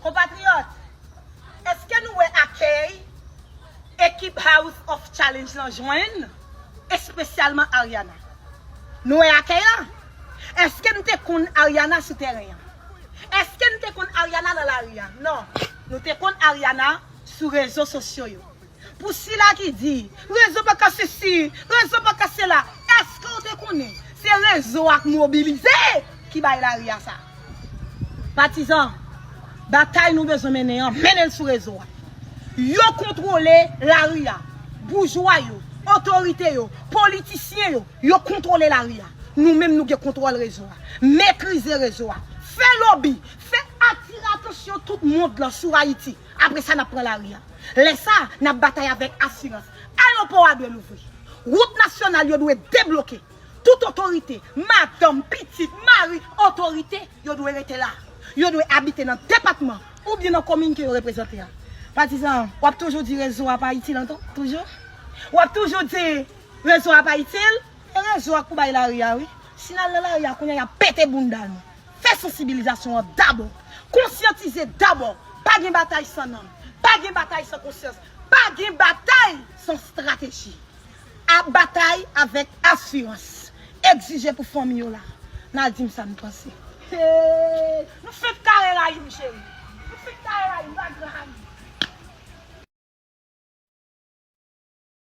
Konpatriyòt, èske nou wè akèy ekip House of Challenge lan jwenn, espesyalman Ariana? Nou wè akèy la? Èske n te konn Ariana sou tèren an? Èske n te konn Ariana nan lari a? Non, nou te konn Ariana sou rezo sosyo yo. Pou sila ki di, rezo pa ka sesi, rezo pa ka sela, eske ou te konnen se rezo ak mobilize ki bay lari a sa? Patizan, batay nou bezwen mennen an, mennen l sou rezo a. Yo kontwole lari a. Boujwa yo, otorite yo, politisyen yo, yo kontwole lari a. Nou menm nou gen kontwòl rezo a. Metrize rezo a. Fè lobi, fè atire atansyon tout mond lan sou Ayiti. Apre sa, n ap pran lari a. Lè sa a, n ap batay avèk asirans. Ayewopò a dwe louvri. Wout nasyonal yo dwe debloke. Tout otorite, madanm, pitit, mari, otorite, yo dwe rete la. Yo dwe abite nan depatman oubyen nan komin ke yo reprezante a. Patizan, w ap toujou di rezo a pa itil ankò? Toujou? W ap toujou di rezo a pa itil? E rezo a k pou bay lari a wi. Si n al nan lari a kounye a, y ap pete bounda nou. Fè sansibilizasyon an dabò. Konsyantize dabò. Pa gen batay san nanm. Pa gen batay san konsyans. Pa gen batay san strateji. A batay avèk asirans. Egzije pou fanmi yo la. N al di m sa n panse. Hee Nou fenk kare rayi m cheri Nou fenk kare rayi m Bagra Hany.